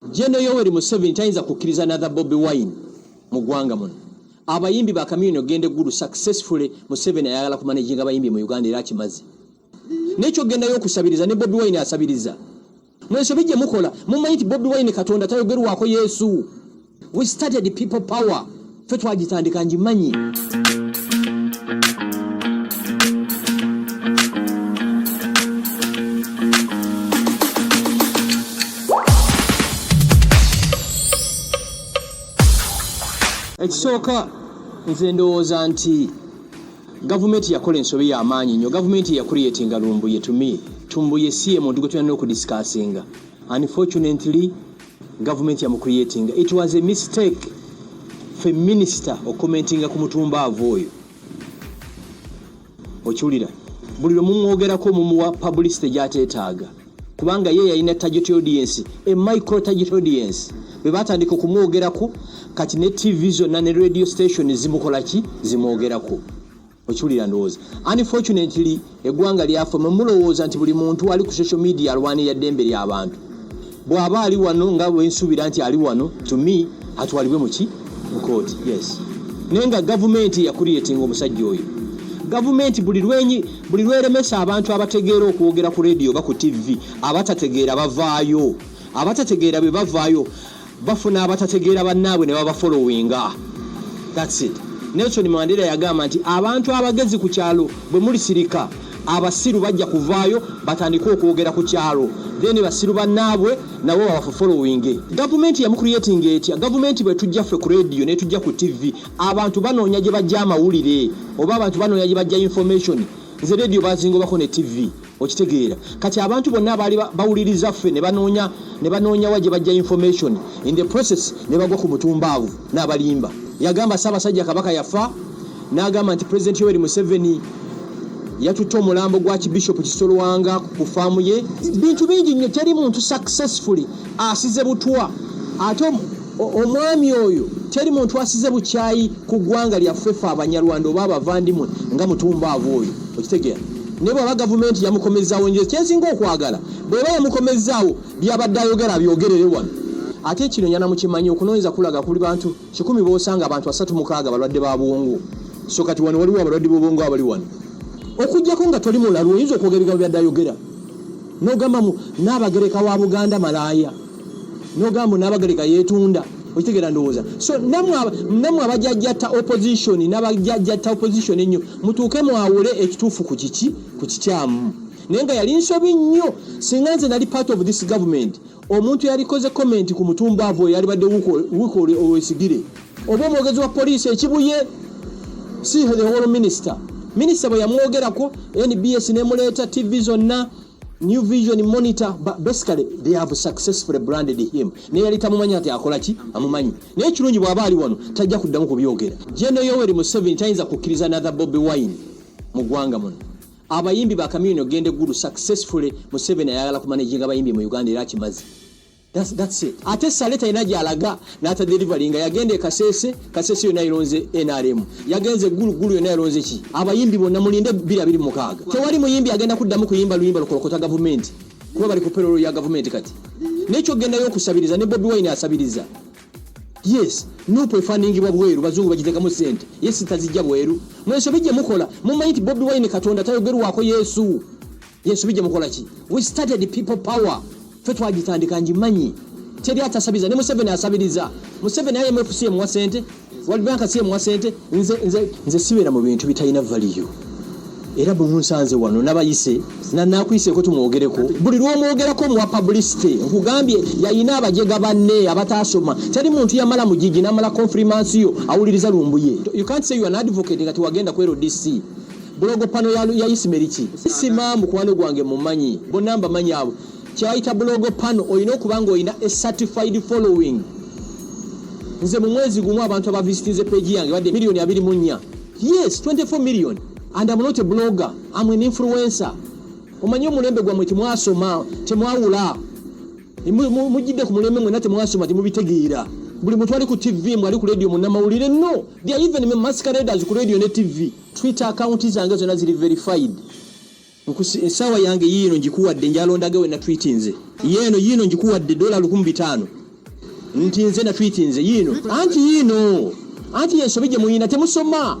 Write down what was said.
Jeno Yoweri Museveni tayinza kukkiriza another Bobi Wine mu ggwanga muno. Abayimbi ba Chameleone okugenda eggulu successfully Museveni ayagala kumanaginga abayimbi mu Uganda era akimaze. N'ekyo kugendayo okusabiriza ne Bobi Wine asabiriza. Mu ensobi gye mukola mumanyi nti Bobi Wine Katonda tayogerwako Yesu. We started people power. ffe twagitandika ngimanyi ekisooka nze ndowooza nti gavumenti yakola ensobi yamaanyi nnyo gavumenti yakuliyetinga lumbuye tumi tumbuye si ye muntu gwe tulina n'okudisikasinga unfortunately Gavumenti yamucreatinga. It was a mistake fe minisita okukomentinga ku mutumbaava oyo. Okiwulira? Buli lwe mumwogerako mumuwa publicity gy'ateetaaga kubanga ye yalina target audience, a micro target audience. Bwe baatandika okumwogerako kati ne TV zonna ne radio station zimukola ki? Zimwogerako. okiwulira ndowooza unfortunately eggwanga lyaffe mwe mulowooza nti buli muntu ali ku social media alwanira ddembe ly'abantu bw'aba ali wano nga wensuubira nti ali wano to me atwalibwe muki mu kooti yes naye nga gavumenti yakuliyetinga omusajja oyo gavumenti buli lwenyi buli lweremesa abantu abategeera okwogera ku rediyo oba ku ttivi abatategeera bavaayo abatategeera bwe bavaayo bafuna abatategeera bannaabwe ne babafolowinga that's it nelson mandera yagamba nti abantu abagezi ku kyalo bwe mulisirika abasiru bajja kuvaayo batandike okwogera ku kyalo then basiru bannaabwe nabo babafofolowinge gavumenti yamukuriyetinga etya gavumenti bwe tujja ffe ku rediyo ne tujja ku tivi abantu banoonya gye bajja amawulire oba abantu banoonya gye bajja information nze rediyo bazingobako ne tivi okitegeera kati abantu bonna abaali bawuliriza ffe nebanoonya nebanoonyawa gye bajja information in the process ne bagwa ku mutumbaavu n'abalimba yagamba ssaabasajja kabaka yafa n'agamba nti president yoweri museveni yatutte omulambo gwa kibishopu kisolwanga ku faamu ye bintu bingi nnyo teri muntu successfully asize butwa ate Omwami oyo teri muntu asize bukyayi ku ggwanga lyaffe fe abanyarwanda oba abavandimwe nga mutumbaavu oyo okitegera naye bwaba gavumenti yamukomezaawo nje kyensinga okwagala bweba yamukomezaawo byabadde ayogera byogerere wano ate kino nyana mukimanyi okunoonyeza kulaga kuli bantu kikumi bosanga abantu asatu mukaaga balwadde ba bwongo so kati wano waliwo abalwadde bobwongo abali wano okujjako nga toli mulalu oyinza okwogera ebigambo byadde ayogera nogambamu naabagereka wa buganda malaaya nogamba nabagereka yetunda okitegera ndowooza so namwe abajajata opposition nabajajata opposition ennyo mutuuke mwawule ekituufu ku kiki ku kikyamu naye nga yali nsobi nnyo singa nze nali part of this government omuntu yalikoze comment ku mutumba avo yalibadde wuka owesigire oba omwogezi wa poliisi ekibuye si the whole minister minister bwe yamwogerako nbs nemuleeta tv zonna new vision monitor but basically they have successfully branded him naye yali tamumanyi ati akola ki amumanyi naye ekirungi bw'aba ali wano tajja kuddamu kubyogera jeno yoweri museveni tayinza kukkiriza nathe bobi wine mu ggwanga muno abayimbi ba kamiyoni ogenda eggulu successfully museveni ayagala kumanaginga abayimbi mu uganda era akimazi That's, that's it. Ate sale talina gyalaga nata delivery nga yagenda kasese kasese yona ironze NRM yagenze gulu gulu yona ironze ki abayimbi bona mulinde bila bili mukaga tewali muyimbi agenda kuddamu kuyimba luyimba lukolokota government kuba bali kuperolo ya government kati nekyo genda yo kusabiriza ne Bobi Wine asabiriza yes nupo efaningibwa bweru bazungu bagitekamu sente yes tazijja bweru mweso bijje mukola mumanyi nti Bobi Wine katonda tayogerwako Yesu Yesu bijja mukola ki? We started people power. Fe twagitandika njimanyi. Teri atasabiza ne Museveni asabiriza. Museveni aye mwefusi ye mwa sente. World Bank si ye mwa sente. Nze nze nze siwera mu bintu bitayina value. Era bwe munsanze wano nabayise na nakuyise ko tumwogereko. Buli lwomwogerako mu publicity nkugambye yayina abajega banne abatasoma. Teri muntu yamala mujiji namala confirmance yo awuliriza lumbuye. You can't say you are an advocate nga tiwagenda ku LDC. bulogo pano ya, ya isimeri ki sima mukwano gwange mumanyi bonna mbamanyi abo kyebayita bulogo pano olina okuba nga olina ecertified following nze mu mwezi gumu abantu abavisitinze peji yange badde miliyoni abiri mu nnya yes 24 million and am not a blogger am an influencer omanyi omulembe gwammwe temwasoma temwawula mujidde ku mulembe mwena temwasoma temubitegeera buli muntu ali ku tv mwe ali ku radio munamawulire no they are even masqueraders ku radio ne tv twitter account zange zona ziri verified esawa yange yiino ngikuwadde njalondage wena twiti nze yeeno yiino ngikuwadde dola lukumi bitaano nti nze na twiti nze yiino anti yiino anti yensobi gye muyina temusoma